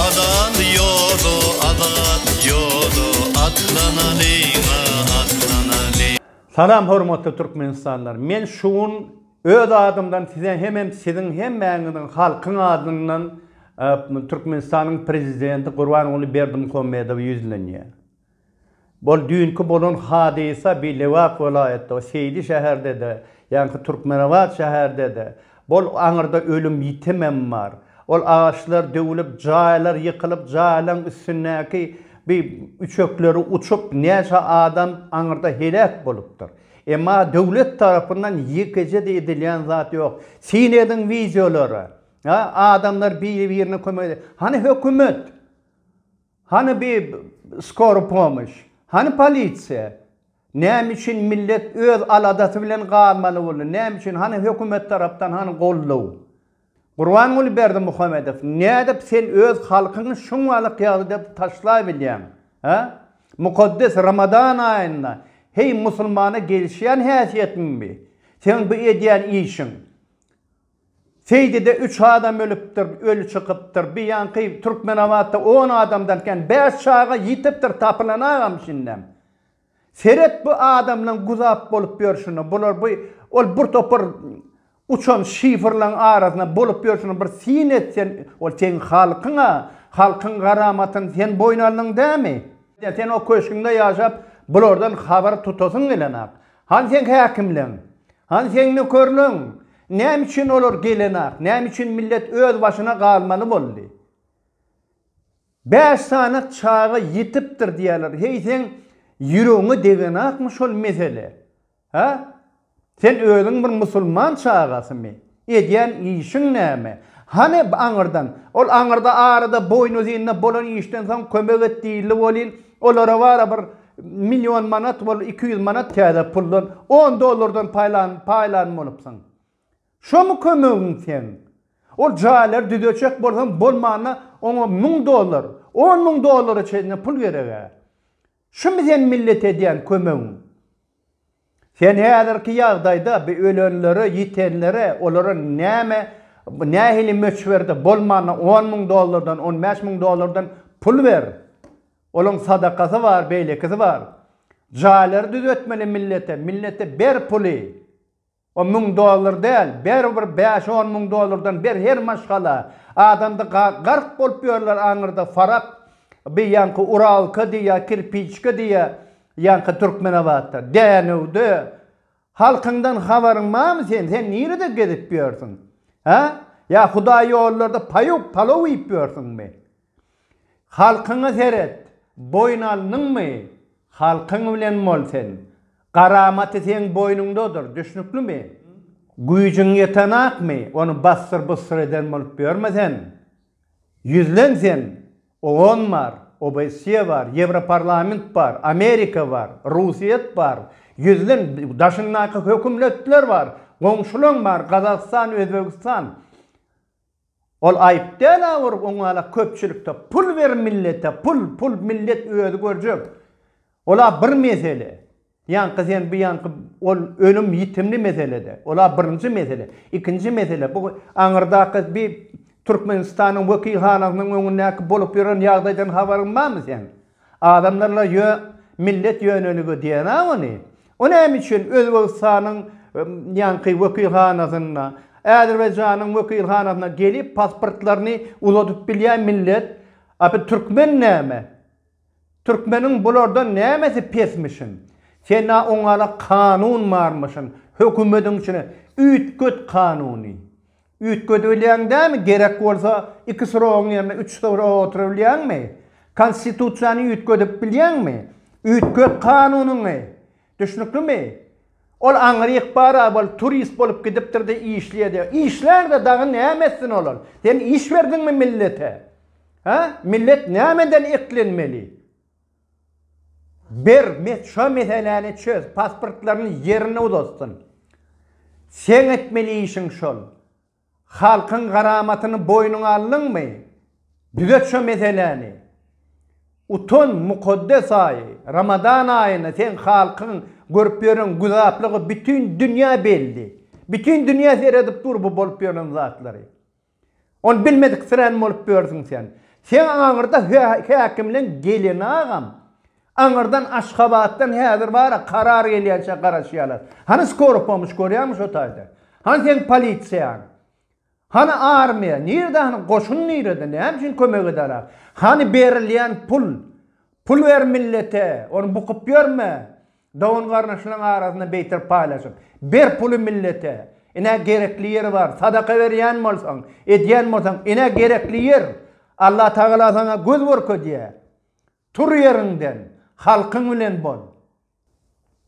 Azat ýoly, azat ýoly, Atlanalyň-a, atlanalyň. Salam hormatly Türkmenistanlylar! Men şu gün öz adymdan size hemem siziň hemmäňiziň halkyň adyndan Türkmenistanyň Prezidenti Gurbanguly Berdimuhamedowa ýüzlenýär. Bol düýnki bolan hadysa bi Lebap welaýatda, Seýdi şäherde-de, ýaňky Türkmenabat şäherde-de, bol aňyrda ölüm ýitimem bar. Ol agaçlar döwülip, jaýlar ýykylyp, jaýlaň üstündäki bi üçekleri uçup, näçe adam aňyrda heläk bolupdyr. Emma döwlet tarapyndan ýekeje-de edilýän zat ýok. Syn ediň wideolara. Adamlar biri-birine kömek edýär. Hany hökümet? Hany bi skora pomoş? Hany polisiýa? Näme üçin millet öz aladasy bilen galmaly boldy? Näme üçin? Hany hökümet tarapdan hany goldaw? Gurbanguly Berdimuhamedow, nädip sen öz halkyňy şunlalyk ýagdaýda taşlaýbilýäň? Hä? Mukaddes Ramadan aýynda heý musulmana gelişýän häsiýetiňmi seň bu edýän işiň? Seýdide üç adam ölüpdir, öli çykypdyr. Bu ýanky Türkmenabatda on adamdan kän bäş çaga ýitipdir, tapylanagam şindem. Seret bu adamlaň guzap bolup ýörşüne, bular bu ol bir topar uçan şifrlaň arasynda bolup ýörşüne bir syn et sen, ol seň halkyň-a, halkyň garamatyny sen boýun aldyň dämi? Sen o köşgüňde ýaşap, bulardan habar tutasyň gelenok. Hany seň häkimleň? Hany seň nökerleň? Näme üçin olar gelenak? Näme üçin millet öz başyna galmaly boldy? Bäş sany çaga ýitipdir diýýärler. Heý seň ýüregiňe degenakmy şol mesele? Hä? Sen özüň bir musulman çagasymy? Edýän işiň näme? Hany, aňyrdan? Ol aňyrda arada boýnuzynyna bolan işden soň kömek et diýildi welin, olara bara bir million manat bol, iki ýüz manat täze puldan, on dollardan paýlan, paýlan bolupsyň. Şomy kömegiň seň? Ol jaýlary düzetjek bolsaň, bolmanda oňa müň dollar, on müň dollara çenli pul gereg-ä. Şumy seň millete edýän kömegiň? Sen häzirki ýagdaýda bu ölenlere, ýitenlere, olara näme, nähili möçberde, bolmanda on müň dollardan, on bäş müň dollardan pul ber. Olaň sadakasy bar, beýlekisi bar. Jaýlary düzetmeli millete, millete ber puly. On müň dollar däl, ber bir bäş-on müň dollardan ber her maşgala. Adamda gark bolup ýörler aňyrda farak, beýanky uralka diýýär, kirpiçka diýýär. Ýaňky Türkmenabatda, Dänewde halkyňdan habaryň barmy sen? Sen nirede gezip ýörsüň? Hä? Ýa hudaý ýollarda paýuk, palaw iýip ýörsüňmi? Halkyňa seret, boýun alnyňmy? Halkyň bilen bol sen. Garamaty seň boýnuňdadyr, düşnüklimi? Güýjüň ýetenakmy, ony bassyr-bussyr eden bolup ýörme sen. Ýüzlen sen, OON bar, OBSE bar, Ýewroparlament bar, Amerika bar, Russiýet bar, ýüzden daşyndaky hökümletler bar, goňşulaň bar, Gazagystan, Özbegistan. Ol aýyp däl-ä bir oňala köpçülikde pul ber millete, pul, pul, millet özi görjek. Ol-a bir mesele. Ýaňky sen bu ýaňky ol ölüm ýitimli meselede. Ola birinji mesele. Ikinji mesele bu aňyrdaky bi Türkmenistanyň wekilhanasynyň öňündäki bolup ýören ýagdaýdan habaryň barmy seň? Adamlar la ýö millet ýöneligi diýenä ony. O näme üçin Özbegistanyň ýaňky wekilhanasynda, Äzerbaýjanyň wekilhanasynda gelip pasportlaryny uzadyp bilýä millet. A bi türkmen näme? Türkmeniň bulardan nämesi pesmişin? Sena oňala kanun barmyşyn, hökümediň içine üýtget kanuny. Üýtgedibilýäň dämi, gerek bolsa iki srogyň ýerine üç srog otyrabilýäňmi? Konstitusiýany üýtgedip bilýäňmi? Üýtget kanunyňy! Düşnüklimi? Ol aňry ykbara bolup, turist bolup gidipdir-de işleýär-de. Işlär-de dagy näme etsin ol-ol? Sen iş berdiňmi millete? Hä? Millet nämeden eklenmeli? Ber, şo meseläni çöz, pasportlaryny ýerine uzatsyn. Seň etmeli işiň şol. Halkyň garamatyny boýnuňa aldyňmy? Düzet şo meseläni. Utan mukaddes aý, Ramadan aýyny seň halkyň görüp ýören güzaplygy bütin dünýä belli. Bütin dünýä seredip dur bu bolup ýören zatlary. Ony bilmediksirän bolup ýörsiň sen. Seň aňyrda häkimleň geleni agam Aňyrdan Aşgabatdan häzir bara karar gelýänçä garaşýarlar. Hany skoro pomoç görýäňmi şo taýda? Hany seň polisiýaň? Hany armiýa? Nirde hany goşun nirede? Näme üçin kömek edarak? Hany berilýän pul? Pul ber millete, ony bukup ýörme. Dogan garnaşlaň arasynda beýter paýlaşyp. Ber puly millete. Inä gerekli ýeri bar. Sadaka berýän bolsaň, edýän bolsaň, inä gerekli ýer. Allatagala saňa göz görkezýä. Tur ýeriňden, halkyň bilen bol.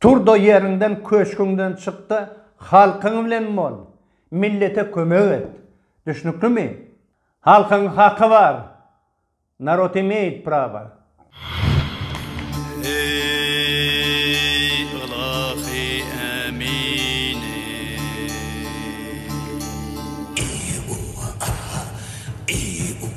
Tur-da ýeriňden, köşgüňden çyk-da, halkyň bilen bol. Millete kömek et. Düşnüklimi? Halkyň haky bar. Narod imeýit prawa. Eý, ylahy Ämine! Eý, umma, a-ha! Eý, umma!